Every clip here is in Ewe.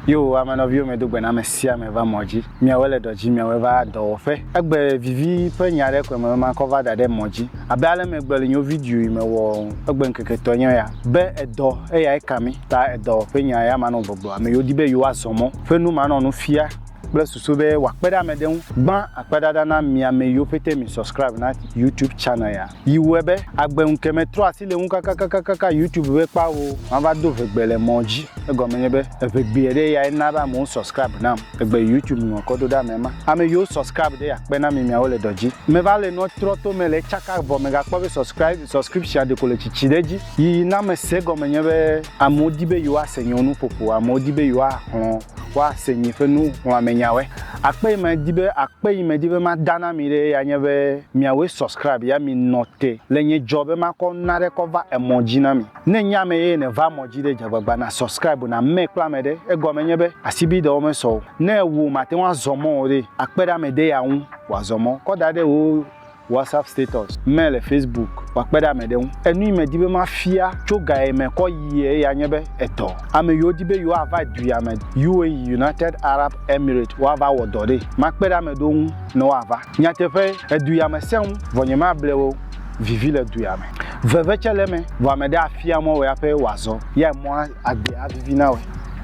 Yo ame nɔviwo me do gbe na ame sia ame va mɔ dzi. Miawe le dɔ dzi, miawe va dɔwɔƒe. Egbe vivi ƒe nya ɖe kɔe me be makɔ va da ɖe mɔ dzi. Abe ale me gbe le nyo video yi me wɔɔ, egbe ŋkeke tɔe nye ya. Be edɔ eyae ka mi, ta edɔwɔƒe nya ya manɔ gbɔgblɔ. Ame yiwo di be yewoa zɔ mɔ ƒe nu manɔ nu fia kple susu be wɔakpe ɖe ame ɖe ŋu. Gbã akpeɖaɖa na mi ame yiwo pete mi subscribe na YouTube channel ya. yi wɔe be agbe ŋke me trɔ asi le ŋu kakakakaka YouTube be kpao ma va do ʋegbe le mɔ dzi egɔme nye be eʋegbeɛ ɖe ya ena be amewo subscribe nam egbe YouTube nɔ kɔ do ɖe ame ma ame yiwo subscribe ɖe ya kpe na mi miawo le dɔ dzi me va le nɔ trɔ to me le tsaka vɔ me ga kpɔ be subscribe subscription ɖeko le tsitsi ɖe dzi yi na me se gɔme nye be amewo di be yewoa se nye wo nuƒoƒo amewo di be yewoa xlɔ woase nyi ƒe nuxlɔ̃amɛnyawoe. Akpe yi medi be, akpe yi medi be mada na mi ɖee ya nye be miawoe subscribe ya mi nɔ te le nye dzɔ be makɔ naɖe kɔ va emɔ dzi na mi. Ne nye ame ye ne va mɔ dzi ɖe dzagbagba na subscribe na mme kple ame ɖe, egɔme nye be asibide wo mesɔ o. Ne ewo mate ŋu azɔ mɔ o ɖe, akpe ɖe ame de ya ŋu wòazɔ mɔ kɔ da ɖe wo. WhatsApp status me le Facebook wòakpe ɖe ame ɖe ŋu. Enu yi medi be mafia tso ga ye me kɔ yi eya nye be edɔ. Ame yiwo di be yewoava duya me, UAE, United Arab Emirates, woava wɔ dɔ ɖee. Makpe ɖe ame ɖewo ŋu ne woava. Nyateƒee, eduya me sẽ ŋu, vɔ nyemable wo o. Vivi le duya me. Veve tsɛ le eme, vɔ ame ɖe afia mɔ wò ya ƒe wòazɔ. Eyae mɔa agbea avivi na wòe.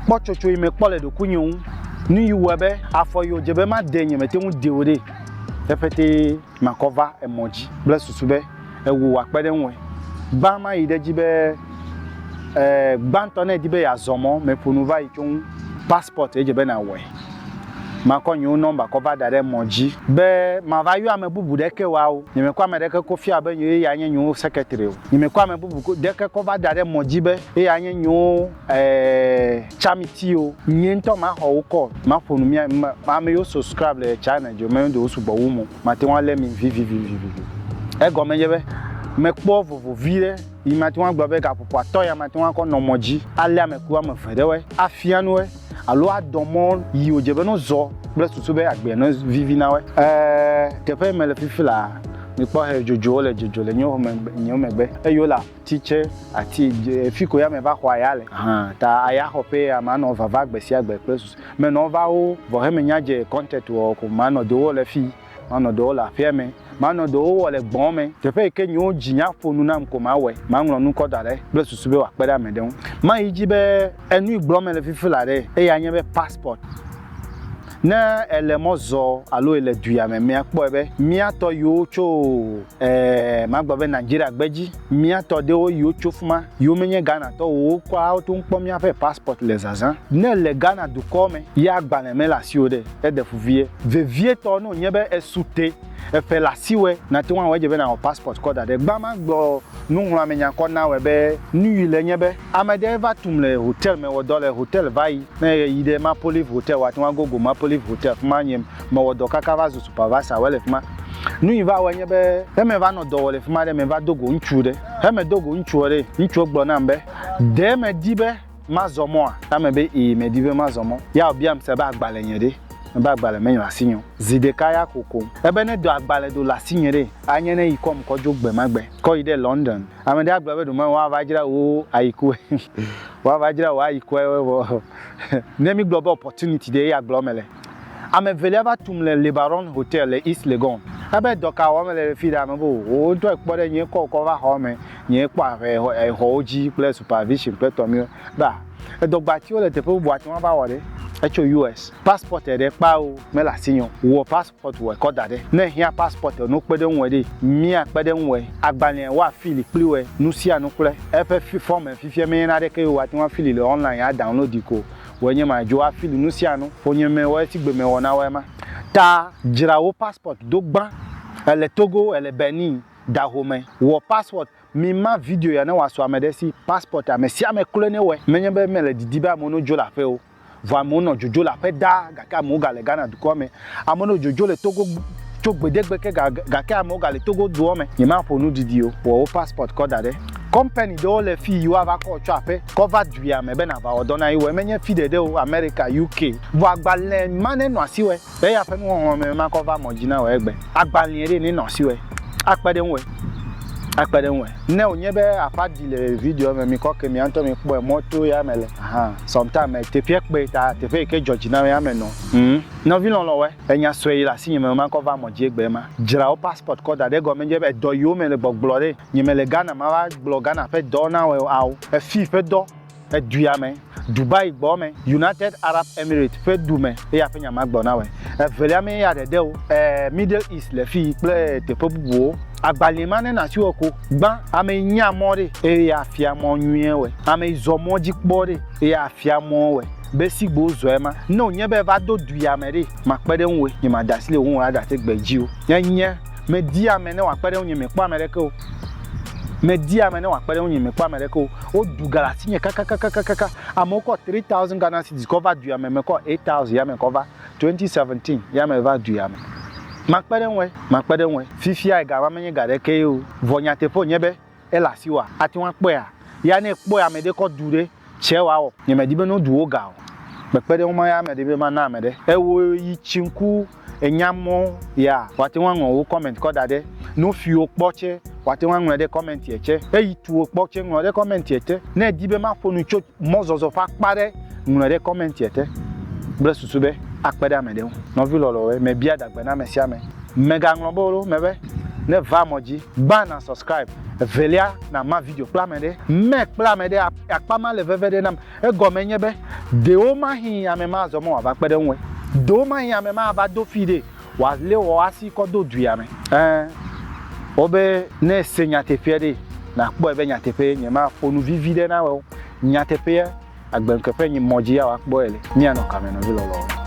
Kpɔtsotso yi mekpɔ le ɖokuinye ŋu, nu yi wɔe be afɔ yi wòdze be madee nye mete ŋu dee o ɖee. Te ƒetee makɔ va emɔ dzi kple susu be ewò wòakpe ɖe ŋue. Gbã mayi ɖe edzi be, e, gbãtɔ ne èdi be yeazɔ mɔ, meƒo nu va yi tso ŋu, passport edze be nàwɔe. Makɔ nye wo nɔmba kɔ va da ɖe emɔ dzi. Be mava yɔ ame bubu ɖeke wa o. Nye mekɔ ame ɖeke ko fia be yewoe ya nye nye wo secretary o. Nye mekɔ ame bubu ɖeke kɔ va da ɖe emɔ dzi be yeya nye nye wo. Eeeeee Camity o, nyee ŋutɔ maxɔ wo call maƒo nu mía me ame yiwo subscribe le China dzi o me ɖewo sugbɔ wu mo mate ŋu alé mi vivivivivi. Egɔme nye be mekpɔ vovo viɖe yi mate ŋu agblɔ be gaƒoƒoatɔ ya mate ŋu akɔ nɔ mɔ dzi alé ame ku ame eve ɖewoe afia nu woe alo adɔ mɔ yi wodze be no zɔ kple susu be agbea no vivi na woe. Eeeeee Teƒe yi mele fifi laa, mikpɔ he dzodzowo le dzodzo le nyewo megbe nyewo megbe eye wole Ti tsɛ, ati dze fi ko ya me va xɔ aya le. Hã ta aya xɔ ƒe ya ma nɔ vava gbe sia gbe kple susu me nɔ va wo vɔ heme nya dze content wɔ ko ma nɔ do wɔ le fi ma nɔ do wɔ le aƒea me ma nɔ do wo wɔ le gbɔn me teƒe yi ke nyiwo dzi nya ƒo nu nam ko ma wɔe ma ŋlɔ nu kɔ da ɖe kple susu be wa kpe ɖe ame ɖe ŋu ma yi dzi be enu yi gblɔ me le fifi la ɖe eya nye be passport. Ne èle mɔ zɔ alo èle duya me mia kpɔe be mía tɔ yiwo tso e magblɔ be Nigeria gbedzi. Mía tɔ ɖewo yiwo tso fima yiwo menye Ghana tɔwo o wo kɔa woto ŋkpɔ mía ƒe passport le zazã. Ne èle Ghana dukɔ me ye agbalẽ mele asiwò ɖe, eɖe fu vie. Vevietɔ ne wònye be esu te eƒe le asiwòe, nate ŋu awɔ edzi be nawɔ passport kɔ da ɖe. Gbã magblɔ nuŋlɔamenya kɔ nawɔe be nuyui le enye be. Ame ɖe va tum le hotel me wɔdɔ le hotel vayi ne ye yi ɖe mapolive hotel wa teŋ agogo mapolive hotel fima nye me wɔdɔ kaka va zu supervisor wɔ le fima nu yi va wɔ nye be ne me va nɔ dɔ wɔ le fima ɖe me va dogo ŋutsu ɖe he me dogo ŋutsuɔ ɖe ŋutsuɔ gblɔ nam be ɖe me di be ma zɔ mɔa na me be ii me di be ma zɔ mɔ ya wo biam se be agbalɛ nye ɖe me be agbalɛ me nyrɔ asi nyeo zi ɖeka ya ko koŋ ebe ne do agbalɛ do le asi nye ɖe a nye ne yi kɔm kɔ dzo gbe ma gbe kɔ yi ɖe London. Ame ɖe agblɔ be ɖomɛ woava dzra wo ayi kue. Woava dzra wo ayi kue vɔ ne mi gblɔ be opportunity ɖe ya gblɔ mele. Ame evelia va tum le Lebaron Hotel le East Legon. Ebe dɔ ka wɔm mele le fi ɖe? Ame be o wo ŋtɔ ekpɔ ɖe nyɛ kɔ wokɔ va xɔ me, nyɛ kpɔ aƒe exɔ wo dzi kple supervision kple tɔ miwo. Be a edɔ gba tiwo le teƒe bubu ate ŋu ava wɔ ɖe? Etso US. Passport eɖe kpa o mele asinye o. Wɔ pas. Passport wɔe kɔ da ɖe. Ne ehiã passport ɔ, no kpe ɖe ŋuɛ ɖe. Mia kpe ɖe ŋuɛ. Agbalẽa wa fili kpli wɛ. Nusianu kple eƒe fi fɔme. Fifia me nye na ɖeke yo wa te ŋu afili le online a downloadi ko wɔe nye ma. Dzo afili nusianu. Ƒonye me wɔe sigbe me wɔna wɔe ma. Ta dzra wo passport do gbã. Ele Togo, ele Benin. Dahome. Wɔ passport. Mi ma video ya ne wa so ameɖe si. Passport a, me sia me kloe ne wɔe. Me nye be me le didi be amewo no dzo le aƒe o. Vɔ amewo nɔ dzodzo le aƒe ɖaa, gake amewo gale Ghana dukɔa me. Amewo nɔ dzodzo le Togo tso gbeɖegbe ke gake amewo gale Togo dua me. Nyemaƒo nu didi o. Wɔ wò passport kɔ da ɖe. Kɔmpani ɖewo le fii yi woava kɔ wò tsɔ aƒe kɔ va duia me be nàva wɔ dɔ na ye. Wɔ menye fi ɖeɖe o, Amerika, UK. Vɔ agbalẽ ma nenɔ asiwɔe. Be eya ƒe nuxɔxlɔ̃ me makɔ va mɔ dzi na wò egbe. Agbalẽe ɖe, nenɔ asi wɔe. Akpe ɖe ŋuwɔe. Akpe ɖe ŋuwɔe. Ne wònye be aƒa ɖi le videoa me, mikɔ ke mia ŋutɔ mikpɔe mɔ to eya me le hã. Sometimes teƒea kpe ta teƒe yi ke dzɔ dzi nam eya me nɔ. Ŋ, nɔvi lɔlɔ̃wɔe. Enya sue yi le asinye me makɔ va mɔ dzi egbe ema. Dzra wò passport kɔ da ɖe egɔme nye be edɔ yiwo mele gbɔgblɔ ɖe. Nyemele Ghana mava gblɔ Ghana ƒe dɔwo na wòe o, ao, efii ƒe dɔ. edua me, Dubai gbɔ me, United Arab Emirates ƒe du me eye aƒe nya ma gbɔ na wɔe. Evelia mee ya ɖeɖe wo, ɛɛ, Middle East le fii kple teƒe bubuwo. Agbalẽe ma ne nasi wɔ ko gbã, amee nyea mɔ ɖe eye afia mɔ nyuie wɔe, amee zɔ mɔ dzi kpɔ ɖe eye afia mɔ wɔe be sigbe wozɔ ema. Ne wònye be eva do du ya me ɖe, makpe ɖe ŋuwòe, nye mada asi le wò ŋu o aɖate gbe dzi o. Nye nye, media ame ne wòakpe ɖe ŋunye, mekpɔ ame aɖeke o. Media ame ne wòakpe ɖe ŋunye, mekpɔ ame aɖeke o. Woɖu ga le asinye kakakakakaka. Amewo kɔ three thousand Ghana cedis kɔ va dua me, mekɔ eight thousand ya me kɔ va. Twenty seventeen ya me va dua me. Makpe ɖe eŋue, makpe ɖe eŋue. Fifia ega ma menye ga ɖekee o. Vɔ nyateƒe wònye be ele asiwòa? Ate ŋu akpɔea? Ya ne ekpɔe ame ɖe kɔ du ɖe, tsɛ wòawɔ. Nyemedi be ne wodu wò ga o. Mekpe ɖe eŋu be maya ame ɖe be mana ame ɖe. Ewɔe yi tsi ŋku. enya mɔ ya wa teŋ aŋlɔ wo comment kɔ daɖɛ. Nufiwo kpɔ tsɛ wa teŋ aŋlɔɛ ɖe commentiɛ tsɛ. Eyi tuwo kpɔ tsɛ ŋlɔ ɖe commentiɛ te. Ne èdi be maƒo nu tso mɔzɔzɔ ƒe akpa ɖe, ŋlɔɛ ɖe commentiɛ te kple susu be akpe ɖe amɛɖe ŋu. Nɔvi lɔlɔwoe, mebia adagbe na amɛsiamɛ. Mègaŋlɔ be ɖo mɛ be, ne èva mɔ dzi, gbã na subscribe, evelia na ma video kple amɛɖe. Mɛ kple amɛɖe akpa ma le veve ɖe nam. Egɔme nye be, ɖewomahĩ ame ma azɔ mɔ wòava kpe ɖe eŋue. Ɖewomahĩ ame ma ava do fii ɖee wòalé wò asi kɔ do duia me. Ẽ, wobe ne èse nyateƒea ɖee, nàkpɔe be nyateƒee. Nyemaƒo nu vivi ɖe na wò o. Nyateƒea, agbenkeƒe nyi mɔ dzi ya wòakpɔe le. Míanɔ kame, nɔvi lɔlɔ̃wo.